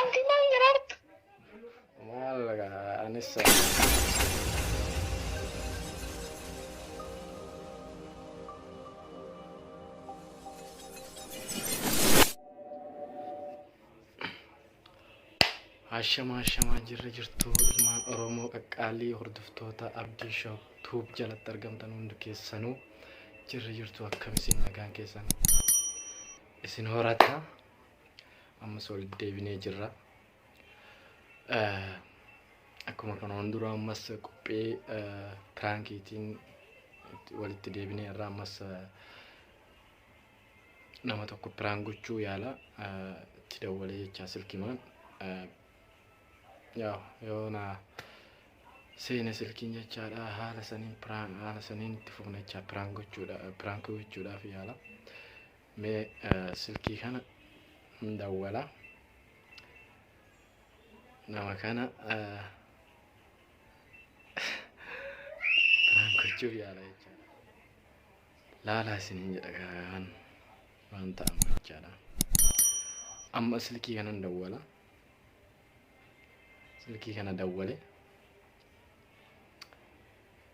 Abdi maal garaartu? Maal gaa anis Ashama ashama jirra jirtu ilmaan Oromoo qaqqaalii hordoftoota Abdii Show Tube jalatti argamtan hundi keessanuu jirra jirtu akkam isin nagaan keessan isin horata ammas walitti deebinee jirra. Akkuma kanaan dura ammas qophii piraankiitiin walitti deebinee irraa ammas nama tokko piraan gochuu yaala itti dawwalee jechaa silkimaan yaa yoo na seena silkiin jechaadha haala saniin piraan haala saniin itti fufna jechaa piraan gochuudha piraan gochuudhaaf yaala. Mee silkii kana hin dawwala nama kana biraan gochuuf yaala jechaadha. Laalaa isin hin jedha garaan waan ta'amu jechaadha. Amma silkii kana hin dawwala. Silkii kana dawwale.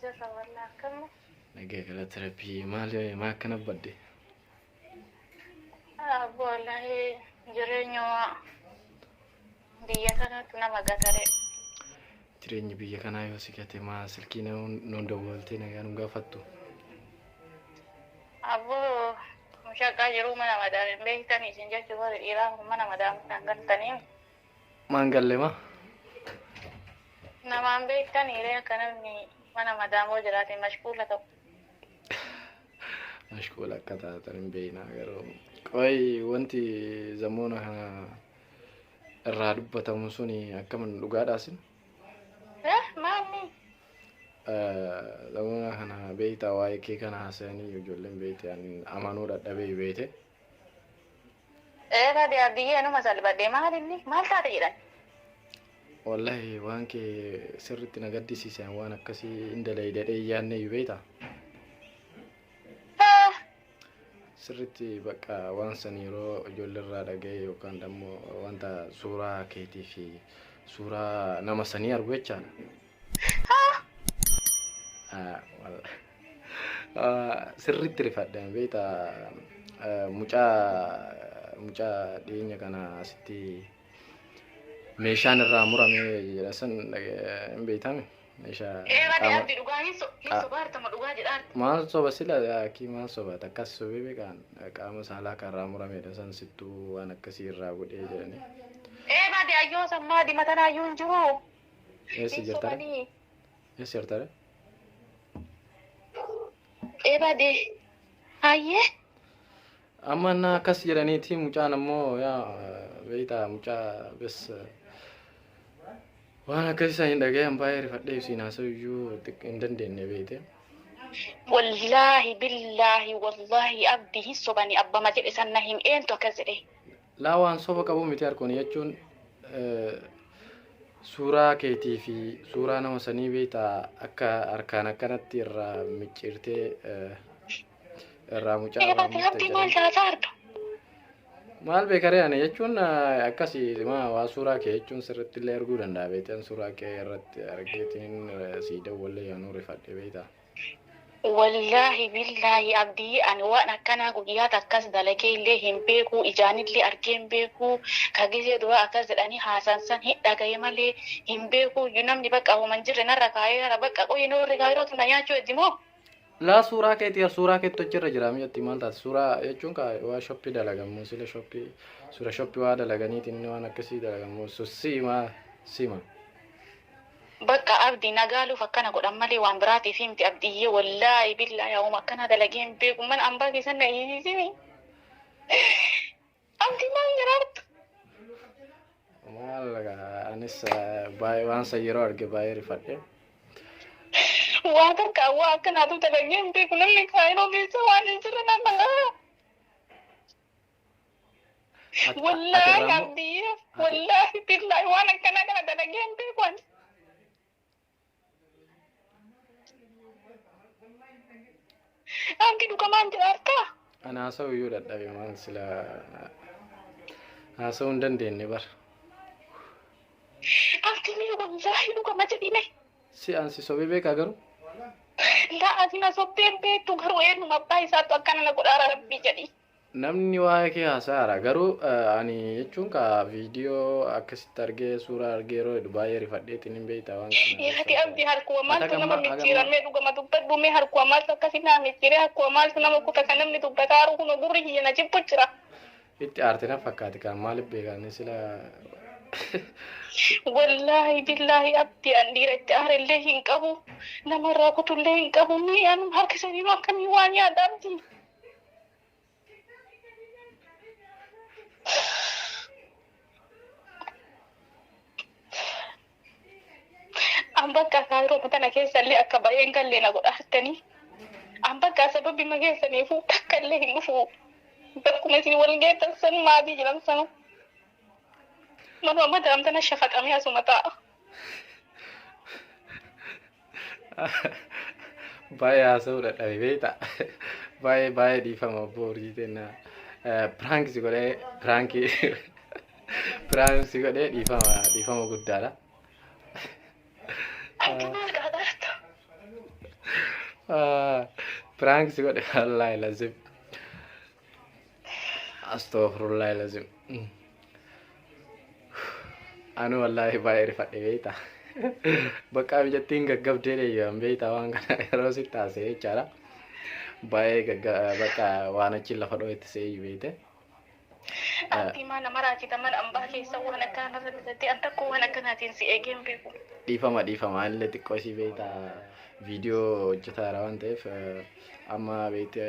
Jirra walla akkamni. Nagaa galata rabbii maal maa akkana badde? Abbo wallahi jireenya waa biyya kanatu nama gatare. Jireenyi biyya kanaa yoo si gate maa silkii nuun dawwaltee nagaa nu gaafattu. Abbo mushaqaa jiruu mana madaam hin beektani isin jechuu warri dhiiraa kun mana madaam kan galtaniin. Maan galle ma. Namaan beektanii ree akka namni mana madaamoo jiraate mashquula ta'u. Mashquula akka taatan hin beekna garuu. Qoy wanti zamoona kana irraa dubbatamu sun akkamin dhugaadhaasin? Eh maanni? Zamoona kana beektaa waa'ee kee kana haasa'anii ijoolleen beekte amanuu dadhabee beekte. Eegaa dee Abdiyyee anuma salphadhe maal inni maal taate jedhan. Wallahi waan kee sirriitti na gaddisiise an waan akkasii hin dalaydadhee hin yaadne iyyuu beekta. Haa Sirriitti bakka waan san yeroo ijoolleerraa dhaga'e yookaan immoo wanta suuraa keetii fi suuraa nama sanii argu jechaadha. Sirriitti rifadha beekta mucaa mucaa dhiyeenya kana asitti meeshaan irraa murame jedha san hin beektame meeshaa maal soba sila akki maal soba takkas sobee beekaan qaama saalaa kan irraa muramedha san sittuu waan akkasii irraa godhee jedhanii. Ee baadiyyaa yoo sammaa dimatanayyuu hin jiru. Eessa jirtare? Somanii Eessa jirtare? eebade hayyee Amma na akkas jedhaniiti mucaan ammoo yaa beektaa mucaa bes waan akkas isaan hin dhagayan baay'ee rifadhee ibsiin haasa'u iyyuu xiqqoo hin dandeenye beekte. wallaahi billaahi wallaahi abdii hin sobanii abbama jedhe sanna hin eentu akkas jedhe Laa waan soba qabu miti harkooni jechuun suuraa keetii fi suuraa nama sanii beektaa akka harkaan akkanatti irraa micciirtee irraa mucaa irraa Irratti murte rabbii maal jedhanii. taata arga? Maal beekaree ani jechuun akkasi maa waa suuraa kee jechuun sirriitti illee arguu danda'a beektan suuraa kee irratti argeetiin sii dawwallee yaanuu rifadhe beektaa. Wallaahi billaahi abdiyee ani waan akkanaa guyyaa takkas dalagee illee hin beekuu ijaan illee argee hin beekuu ka gizee duraa akkas jedhanii haasaan san hin dhagaye malee hin beekuuyyu namni baqqa homa hin jirre narra kaayee jira baqqa qoyi noorri kaayirootu na nyaachuu heddi moo Laa suuraa keeti yaa suuraa keetti hojjirra jira mi'atti maal taate suuraa jechuun kaa waa shoppii dalagamuu sila shoppii suura shoppii waa dalaganiitiin inni waan akkasii dalagamuu so siima siima. Baqqa abdi na gaaluf akkana godhan malee waan biraatifi miti abdiyye wollaahi billaahi awuma akkanaa dalagee hin beeku mana ambaa keessan na hiisiisini abdi maal jaraartu Maal gaa, anis eh, baay'ee waan san yeroo arge baay'ee rifadhe. waa takka waa akkanaatu dalagee hin beeku namni kaayiroo keessa waan hin jirre na balaa Ati- Wallaahi ati irraa immoo- abdiyyee ati- wallaahi billaahi waan akkanaa kana dalagee hin beeku ani. Abdi dhugamaan jira harkaa. Ani haasa'u iyyuu dadhabe maal sila haasa'uu hin dandeenye bar. Abdi mee wallaahi dhugama jedhime. Si an si sobee beekaa garuu Laa ati na sobdee hin beektu garuu eenyuma abbaa isaatu akkana na godhaara rabbii jedhi. Namni waa'ee kee haasa'aara garuu ani jechuun ka viidiyoo akkasitti argee suuraa argee yeroo hedu baay'ee rifadheetiin hin beektaa waan kana. Yaati abdi harkuwa maaltu nama micciiramee dhugama dubbadhu mee harkuwa maaltu akkasi naa micciiree harkuwa maaltu nama kuta ka namni dubbata haru kuno gurri kiyya na jibbu jira. Itti aarte na fakkaati kaan maaliif beekaanii sila. Wallaahi billaahi abdi an dhiira itti aare illee hin qabu namarraa kutu illee hin qabu mee anum harkisaniinu akkamii waan yaadha abdi. An bakka kaayiroo tana keessallee akka baay'een gallee na godha harkanii. An bakka sababbi ma keessaniifuu takka illee hin dhufu. Bakkuma isin wal geettan san maatii jiran sana. Manuma madaam tana shafaxamee asuma taa'a. Baay'ee haasa'uu dadhabe beekta. Baay'ee baay'ee dhiifama obbo Urjii jenna. Piraank si godhee piraankii piraank si godhee dhiifama dhiifama guddaadha. Piraank si godhe wallaahi lazim. Astaghfirullah lazim. Anu wallahi baay'ee rifadhe beekta. Bakka mijattiin gaggabdee deebi'an beekta waan kana yeroo si taasise jechaadha. Baay'ee gagga bakka waan achi lafa dhoo'etti seeyyu beekte. Abdii maa nama raajita mana ambaa keessa waan akkanaa narra bitate an tokko waan akkanaatiin si eegee hin beeku. Dhiifama dhiifama anillee xiqqoo isii beekta viidiyoo hojjetaara waan ta'eef eh, amma beekte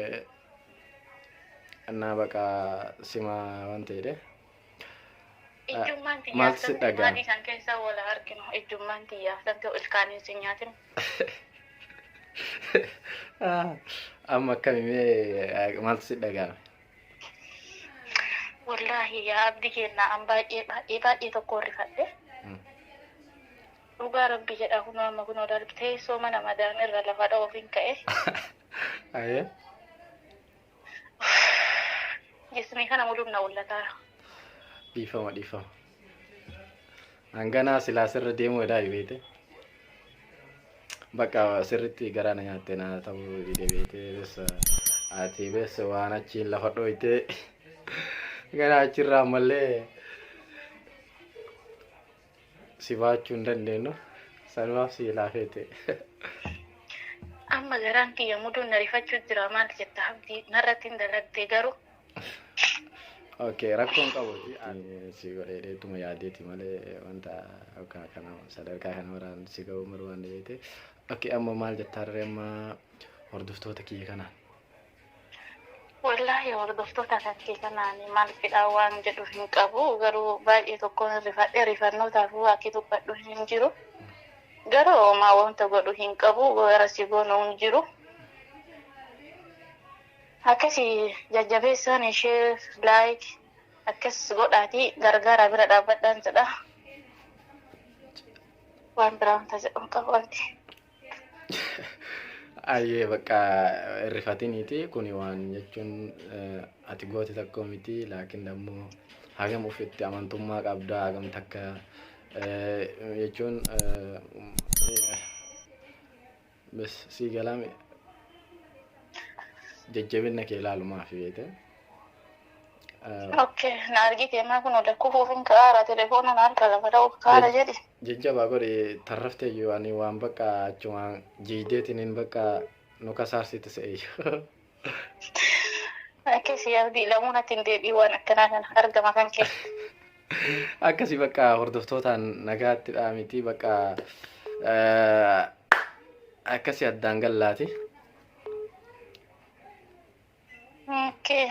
Annaa baqa sima waan ta'edhe. Ijjummaan tiyyaa Maaltu si santu dhagaa? maadii san keessa wal haa arginu. Ijjummaan tiyyaa santu ilkaaniin si nyaatin. Amma akkami mee maaltu si dhaga'ame? Wallaahi yaa abdi keenna an baay'ee baay'ee baay'ee tokko rifadhe. Mm. Dhugaa rabbi jedha kunoo amma kunoo darbi teessoo mana madaan irra lafa dha'uuf hin ka'e. Ayee. Jismii kana muduun na ullataa. Dhiifama dhiifama. Hanganaa silaa sirra deemuu edaa beete. Bakka sirritti garaa na nyaatte na ta'uu dide beete bessa ati bessa waan achiin lafa dhooyte gara achirraa ammallee si baachuu hin dandeenyu sanumaaf si laafeete. Amma garaan kiyya muduun na rifachuu jira maal jetta abdii narratti hin dalagde garuu. Ok rakkoon qabu si godhee deetuma yaadeeti malee wanta akka kana sadarkaa kana waraan si ga'uu hin barbaanne beekte. Ok amma maal jettaa dharee amma hordoftoota kiyya kanaan. Wallaahi hordoftoota kanke kana ani maal fidhaa waan jedhu hin qabu garuu baay'ee tokkoon rifadhe rifannootaafuu akki dubbadhu hin jiru garuu homaa wanta godhu hin qabu gara si goonu hin jiru akkasi jajjabeessaan ishee laayik akkas godhaatii gargaaraa bira dhaabbadhaan jedha waan biraa wanta jedhu hin qabu abdi. Ayyee bakka irrifatiniiti kuni waan jechuun ati goote tokko miti laakiin ammoo hagam ofitti amantummaa qabdaa hagam takka jechuun bes sii galaame jajjabinna kee ilaalumaaf beete. Okay, na argite maa kun oda kufuuf hin kaara telefoona na harka lafa dha'uuf kaara jedhi. Jajjabaa godhi tarrafteeyyu ani waan bakka achuma jiiddeetiniin bakka nu kasaarsite seeyyu. Akkasii abdii lamuun ati hin deebiin waan akkanaa kana argama kan kee. Akkasii bakka hordoftootaan nagaatti dhaamiti bakka akkasii addaan gallaati. Okay.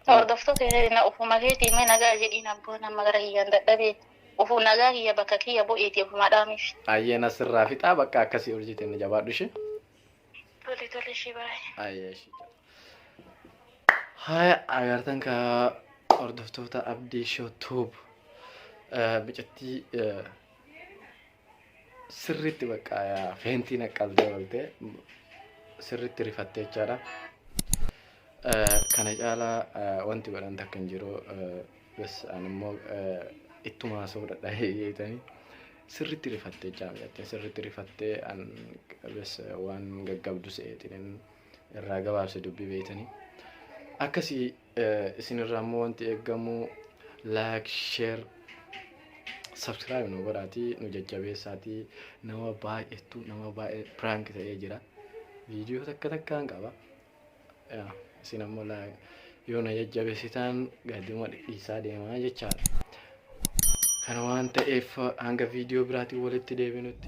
Hordoftoota na ofuma keetii mee nagaa jedhiin abboon amma gara kiyyaan dadhabee ofu nagaa kiyya bakka kiyya bu'iiti ofuma dhaamiif. Ayyeen asirraa fixaa bakka akkasii ol jeteen jabaadhu ishee. Tole tole ishee baay'ee. Ayyee ishee. Haya agartan ka hordoftoota Abdii Shoo Tuub micattii sirriitti bakka feentii naqqabdee oolte sirriitti rifattee jechaadha. Kana caalaa wanti godhan takka hin jiru. Bas ani immoo ittuma haasa'uu dadhabee jeetanii sirriitti rifattee jechaa miidhattee sirriitti rifattee an bas waan gaggabdu se'eetiin irraa gabaabse dubbii beeytanii. Akkasii Isin irraa immoo wanti eegamu like, share, subscribe nu godhaatii nu jajjabeessaatii nama baay'eetu nama baay'ee prank ta'ee jira. Viidiyoo takka takkaan qaba. Yaa, Isin ammoo like yoo na jajjabeessitaan gaduma dhidhiisaa deemaa jechaadha. Kana waan ta'eef hanga viidiyoo biraatiin walitti deebinutti.